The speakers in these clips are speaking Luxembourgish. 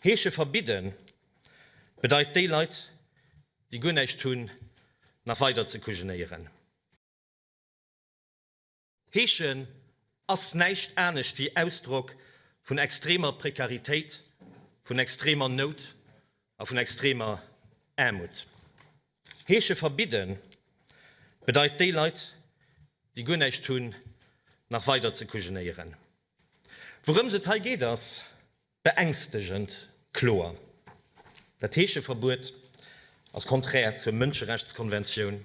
Heesche verbidden bedeit déi Leit déi guer näischt hunn nach weider ze kujenéieren. Heeschen ass näischt anescht wéi Ausdrock vun extremer Prekaritéit, vun extremer Nout a vun extremer Aarmut. Heesche verbidden bedeit déi Leit déi guer näischt hunn nach weider ze kujenéieren. Wourëms et hei geet ass. Beängstegend kloer, Dat Heescheverbuet ass konträr zur Mënscherechtskonventioun.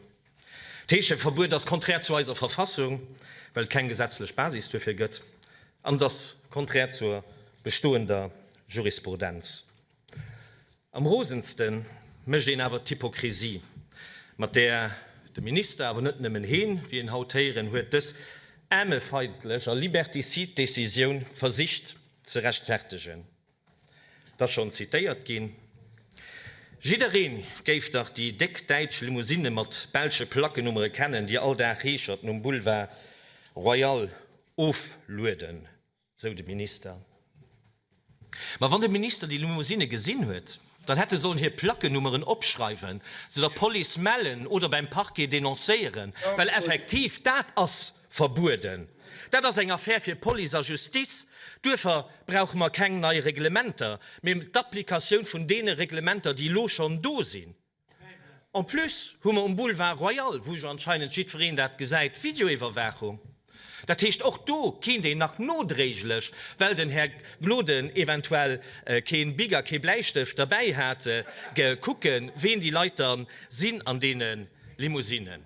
D'Heescheverbuet ass konträr zu eiser Verfassung, well et keng gesetzlech Basis duerfir gëtt, an et ass konträr zur bestoender Jurisprudenz. Am rosendste mécht een awer d'Hypokrisie, mat där de Minister, awer net nëmmen heen, wéi een haut héieren huet, dës aarmefeindlech a liberticide Decisioun versicht, ze rechtfertegen. Et ass schonn zitéiert ginn, Jidderee géif dach déi déck däitsch Limousinne mat belsche Plackennummere kennen, déi all Dag Heeschert nom Boulevard Royal oflueden, sou de Minister. Ma wann de Minister déi Limousinne gesinn huet, dann hätt e sollen hir Plackennummeren opschreiwen, se der Police mellen oder beim Parquet denoncéieren, well effektiv dat ass, Verbueden, dat ass eng Affaire fir Police a Justice. Duerfir brauche mer keng nei Reglementer, mee d'Applikatioun vun deene Reglementer, déi elo schonn do sinn. En plus hu mer um Boulevard Royal, wou jo anscheinend jiddwereen dat gesäit, Videoiwwerwaachung. Dat heescht, och do kéint een nach nodréiglech, well den Här Gloden eventuell kee Bic a kee Bläistëft derbäi hat, kucken, ween déi Leit da sinn an deene Limousinen.